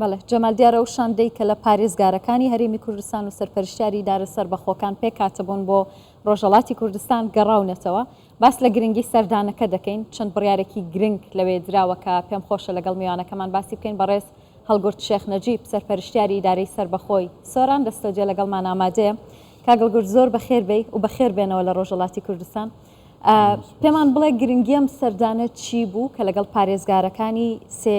بەڵێ، جەمال دیار ئەو شاندەی کە لە پارێزگارەکانی هەرێمی کوردستان و سەرپەرشتیاری ئیدارە سەربەخۆکان پێکهاتبوون بۆ ڕۆژهەڵاتی کوردستان گەڕاونەتەوە، باس لە گرنگی سەردانەکە دەکەین، چەند بڕیارێکی گرنگ لەوێ دراوە کە پێم خۆشە لەگەڵ میوانەکەمان باسی بکەین، بەڕێز هەڵگورد شێخ نەجیب، سەرپەرشتیاری ئیدارەی سەربەخۆی سۆران لە ستۆدیۆ لەگەڵمان ئامادەیە. کاک هەڵگورد زۆر بەخێر بێی و بەخێر بێنەوە لە ڕۆژهەڵاتی کوردستان. پێمان بڵێ گرنگی ئەم سەردانە چی بوو کە لەگەڵ پارێزگارەکانی سێ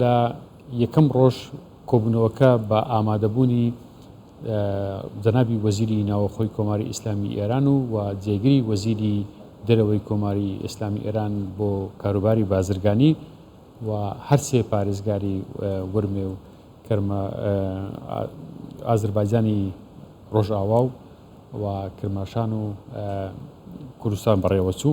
لە یەکەم ڕۆژ کۆبوونەوەکە بە ئامادەبوونی جەنابی وەزیری ناوەخۆی کۆماری ئیسلامی ئێران و و جێگری وەزیری دەرەوەی کۆماری ئیسلامی ئێران بۆ کاروباری بازرگانی و هەرسێ پارێزگاری ورمێ و کرمە ئازربایجانی ڕۆژئاوا و و کرماشان و کوردستان بەڕێوەچوو.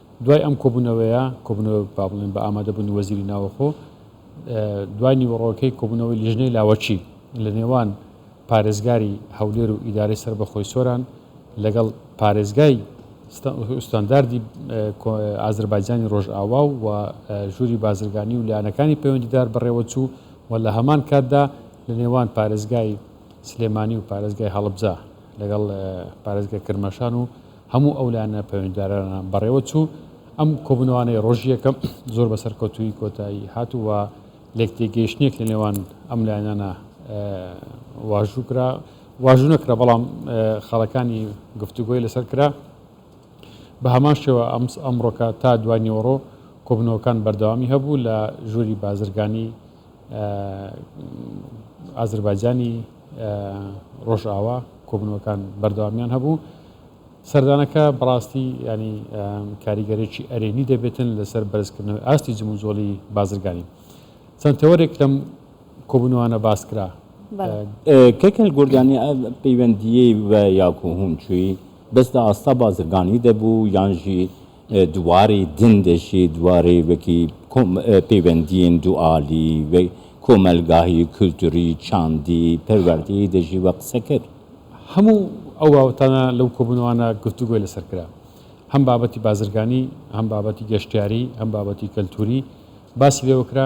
دوای ئەم کۆبوونەوەیە، کۆبوونەوە با بڵێن بە ئامادەبوونی وەزیری ناوەخۆ، دوای نیوەڕۆکەی کۆبوونەوەی لیژنەی لاوەکی لە نێوان پارێزگاری هەولێر و ئیدارەی سەربەخۆی سۆران لەگەڵ پارێزگای ستانداردی ئازەربایجانی ڕۆژئاوا و ژووری بازرگانی و لایەنەکانی پەیوەندیدار بەڕێوەچوو و لە هەمان کاتدا لە نێوان پارێزگای سلێمانی و پارێزگای هەڵبجە لەگەڵ پارێزگای کرماشان و هەموو ئەو لایەنە پەیوەندیدارانە بەڕێوە چوو، ئەم کۆبوونەوانەی ڕۆژی یەکەم زۆر بە سەرکەوتوویی کۆتایی هات و لێک تێگەیشتنێک لە نێوان ئەم لایەنانە واژوو کرا، واژوو نەکرا بەڵام خەڵەکانی گفتوگۆی لەسەر کرا. بە هەمان شێوە ئەم ئەمڕۆکە تا دوای نیوەڕۆ کۆبوونەوەکان بەردەوامی هەبوو لە ژووری بازرگانی ئازربایجانی ڕۆژئاوا کۆبوونەوەکان بەردەوامیان هەبوو. سەردانەکە بەڕاستی ینی کاریگەرێکی ئەرێنی دەبێتن لەسەر بەرزکردنەوەی ئاستی جموجۆڵی بازرگانی چەند تەوەرێک لەم کۆبوونەوانە باس کرا کەکەل گردانی پەیوەندیی بە یاکوهون چووی بەسدا ئاستا بازرگانی دەبوو یانژی دواری دن دەشی دواری وەکی پەیوەندیین دوئالی و کۆمەلگاهی کولتوری چاندی پەروەردەی دەژی وە قسە کرد. هەموو ئەو بابەتانە لەو کۆبوونەوانە گفتوگۆی لەسەر کرا. هەم بابەتی بازرگانی، هەم بابەتی گەشتیاری، هەم بابەتی کەلتوری باسی لێوە کرا.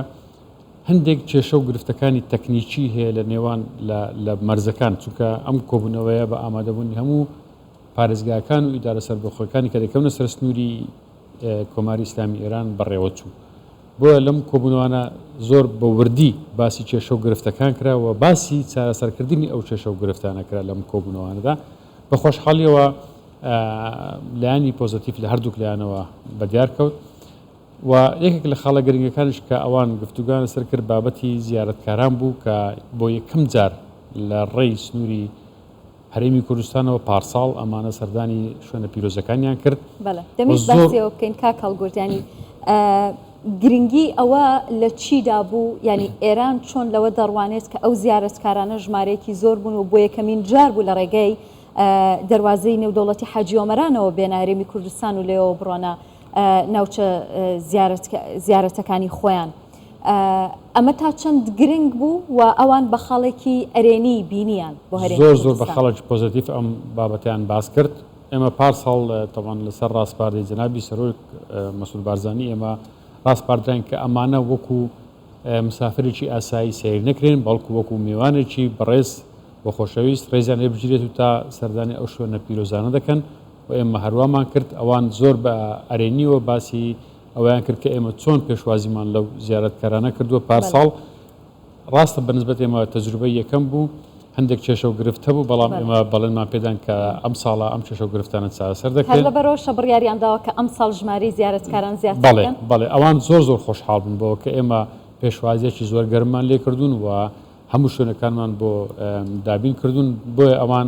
هەندێک کێشە و گرفتەکانی تەکنیکی هەیە لە نێوان لە لە مەرزەکان چونکە ئەم کۆبوونەوەیە بە ئامادەبوونی هەموو پارێزگاکان و ئیدارە سەربەخۆکانی کە دەکەونە سەر سنووری کۆماری ئیسلامی ئێران بەڕێوە چوو. بۆیە لەم کۆبوونەوانە زۆر بە وردی باسی کێشە و گرفتەکان کرا و باسی چارەسەرکردنی ئەو کێشە و گرفتانە کرا لەم کۆبوونەوانەدا. بە خۆشحاڵیەوە لایەنی پۆزەتیف لە هەردووک لایەنەوە بەدیار کەوت و یەکێک لە خاڵە گرنگەکانش کە ئەوان گفتوگان لەسەر کرد بابەتی زیارەتکاران بوو کە بۆ یەکەم جار لە ڕێی سنووری هەرێمی کوردستانەوە پارساڵ ئەمانە سەردانی شوێنە پیرۆزەکانیان کرد بەڵێ دەمەویست زۆر باسیەوە بکەین کاک هەڵگورد ینی گرنگی ئەوە لە چیدا بوو ینی ئێران چۆن لەوە دەڕوانێت کە ئەو زیارەتکارانە ژمارەیەکی زۆر بوون و بۆ یەکەمین جار بوو لە ڕێگەی دەواازەی نێودەوڵەتی حاجیۆمەرانەوە بێنە هەرێمی کوردستان و لێەوە بڕۆنە ناوچە زیارەتەکانی خۆیان. ئەمە تا چەند گرنگ بوو و ئەوان بە خاڵێکی ئەرێنی بینیان بۆ هەرێمی کوردستان؟ زۆر زۆر بە خاڵێکی پۆزەتیف ئەم بابەتەیان باس کرد. ئێمە پارساڵ تەبعەن لەسەر ڕاسپاردەی جەنابی سەرۆک مەسعود بارزانی ئێمە ڕاسپاردراین کە ئەمانە وەکوو مسافرێکی ئاسایی سەیر نەکرێن بەڵکوو وەکوو مێوانێکی بەڕێز و خۆشەویست ڕێزیان لێ بگیرێت و تا سەردانی ئەو شوێنە پیرۆزانە دەکەن و ئێمە هەروامان کرد، ئەوان زۆر بە ئەرێنییەوە باسی ئەوەیان کرد کە ئێمە چۆن پێشوازیمان لەو زیارەتکارانە کردووە پارساڵ، ڕاستە بەنسبەت ئێمە تەجروبەی یەکەم بوو، هەندێک کێشە و گرفت هەبوو، بەڵام ئێمە بەڵێنمان پێدان کە ئەمساڵ ئەم کێشە و گرفتانە چارەسەر دەکرێن. هەر لەبەرئەوەشە بڕیاریان داوە کە ئەمساڵ ژمارەی زیارەتکاران زیاتر بکەن؟ بەڵێ، بەڵێ، ئەوان زۆر زۆر خۆشحاڵ بوون بەوە کە ئێمە پێشوازییەکی زۆر گەرممان لێ کردوون و هەموو شوێنەکانمان بۆ دابین کردوون، بۆیە ئەوان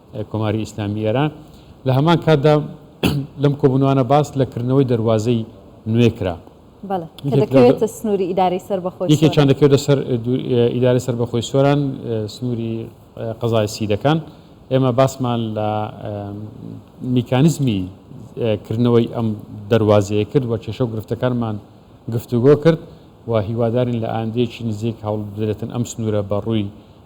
کۆماری ئیسلامی ئێران. لە هەمان کاتدا لەم کۆبوونەوانە باس لە کردنەوەی دەروازەی نوێ کرا. بەڵێ کە دەکەوێتە سنووری ئیدارەی سەربەخۆی سۆران. یەکێکیان دەکەوێتە سەر ئیدارەی سەربەخۆی سۆران، سنووری قەزای سیدەکان. ئێمە باسمان لە میکانیزمی کردنەوەی ئەم دەروازەیە کرد و کێشە و گرفتەکانمان گفتوگۆ کرد و هیوادارین لە ئایندەیەکی نزیک هەوڵ بدرێتن ئەم سنوورە بە ڕووی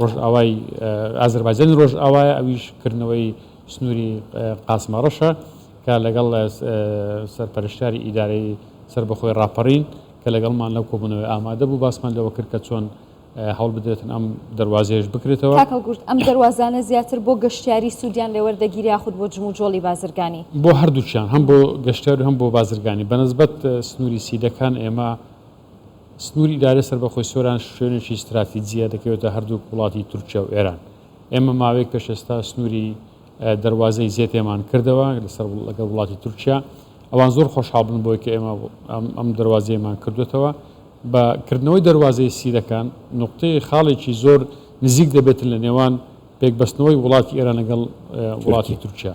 ڕۆژئاوای ئازەربایجانی ڕۆژئاوایە، ئەویش کردنەوەی سنووری قاسمەڕەشە کە لەگەڵ سەرپەرشتیاری ئیدارەی سەربەخۆی ڕاپەڕین کە لەگەڵمان لەو کۆبوونەوەی ئامادە بوو باسمان لەوە کرد کە چۆن هەوڵ بدرێتن ئەم دەروازەیەش بکرێتەوە. کاک هەڵگورد ئەم دەروازانە زیاتر بۆ گەشتیاری سوودیان لێ وەردەگیرێ یاخود بۆ جموجۆڵی بازرگانی؟ بۆ هەردووکیان هەم بۆ گەشتیار و هەم بۆ بازرگانی بەنسبەت سنووری سیدەکان ئێمە سنووری ئیدارەی سەربەخۆی سۆران شوێنێکی ستراتیجییە دەکەوێتە هەردووک وڵاتی تورکیا و ئێران. ئێمە ماوەیەک پێش ئێستا سنووری دەروازەی زێتێمان کردەوە لەسەر لەگەڵ وڵاتی تورکیا. ئەوان زۆر خۆشحاڵ بوون بۆی کە ئێمە ئەم دەروازەیەمان کردوێتەوە. بە کردنەوەی دەروازەی سیدەکان نوقتەی خاڵێکی زۆر نزیک دەبێتن لە نێوان پێکبەستنەوەی وڵاتی ئێران لەگەڵ وڵاتی تورکیا.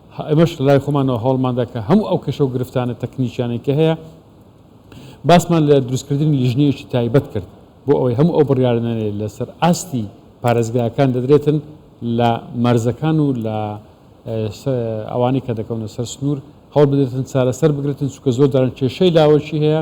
ئێمەش لە لای خۆمانەوە هەوڵماندا کە هەموو ئەو کێشە و گرفتانە تەکنیکیانەی کە هەیە باسمان لە دروستکردنی لیژنەیەکی تایبەت کرد بۆ ئەوەی هەموو ئەو بڕیارانەی لەسەر ئاستی پارێزگاکان دەدرێتن لە مەرزەکان و لە ئەوانەی کە دەکەونە سەر سنوور هەوڵ بدرێتن چارەسەر بگرێتن چونکە زۆر جاران کێشەی لاوەکی هەیە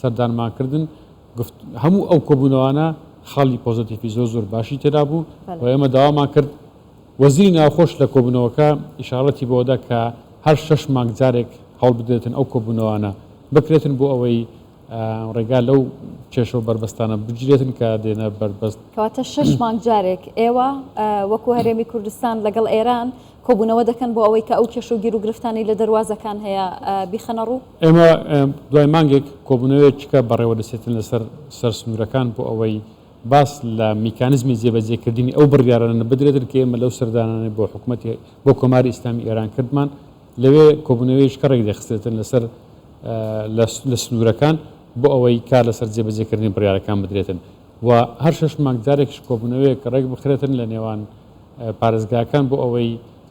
سەردانمان کردن گفت هەموو ئەو کۆبوونەوانە خاڵی پۆزەتیفی زۆر زۆر باشی تێدا بوو و ئێمە داوامان کرد وەزیری ناوخۆش لە کۆبوونەوەکە ئیشاڕەتی بەوەدا کە هەر شەش مانگ جارێک هەوڵ بدرێتن ئەو کۆبوونەوانە بکرێتن بۆ ئەوەی ڕێگا لەو کێشە و بەربەستانە بگیرێتن کە دێنە بەربەست. کەواتە شەش مانگ جارێک ئێوە وەکو هەرێمی کوردستان لەگەڵ ئێران کۆبوونەوە دەکەن بۆ ئەوەی کە ئەو کێشە و گیروگرفتانەی لە دەروازەکان هەیە بیخەنە ڕوو؟ ئێمە دوای مانگێک کۆبوونەوەیەکیکە بەڕێوەدەچێتن لەسەر سەر سنوورەکان بۆ ئەوەی باس لە میکانزمی جێبەجێکردنی ئەو بڕیارانە بدرێتن کە ئێمە لەو سەردانانەی بۆ حکومەتی بۆ کۆماری ئیسلامی ئێران کردمان لەوێ کۆبوونەوەیەکە ڕێکدەخستێتن لەسەر لە سنوورەکان بۆ ئەوەی کار لەسەر جێبەجێکردنی بڕیارەکان بدرێتن و هەر شەش مانگ جارێکش کۆبوونەوەیەک ڕێک بخرێتن لە نێوان پارێزگاکان بۆ ئەوەی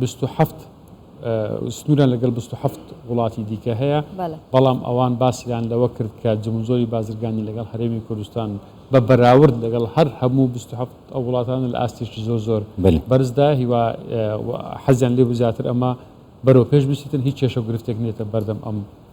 بیست و حەفت سنووریان لەگەڵ بیست و حەفت وڵاتی دیکە هەیە، بەڵام ئەوان باسیان لەوە کرد کە جموجۆری بازرگانی لەگەڵ هەرێمی کوردستان بە بەراورد لەگەڵ هەر هەموو بیست و حەفت ئەو وڵاتانە لە ئاستێکی زۆر زۆر بەرزدایە، هیوا حەزیان لێبوو زیاتر ئەمە بەرەوپێش بچیتن، هیچ کێشە و گرفتێک نییەتە بەردەم ئەم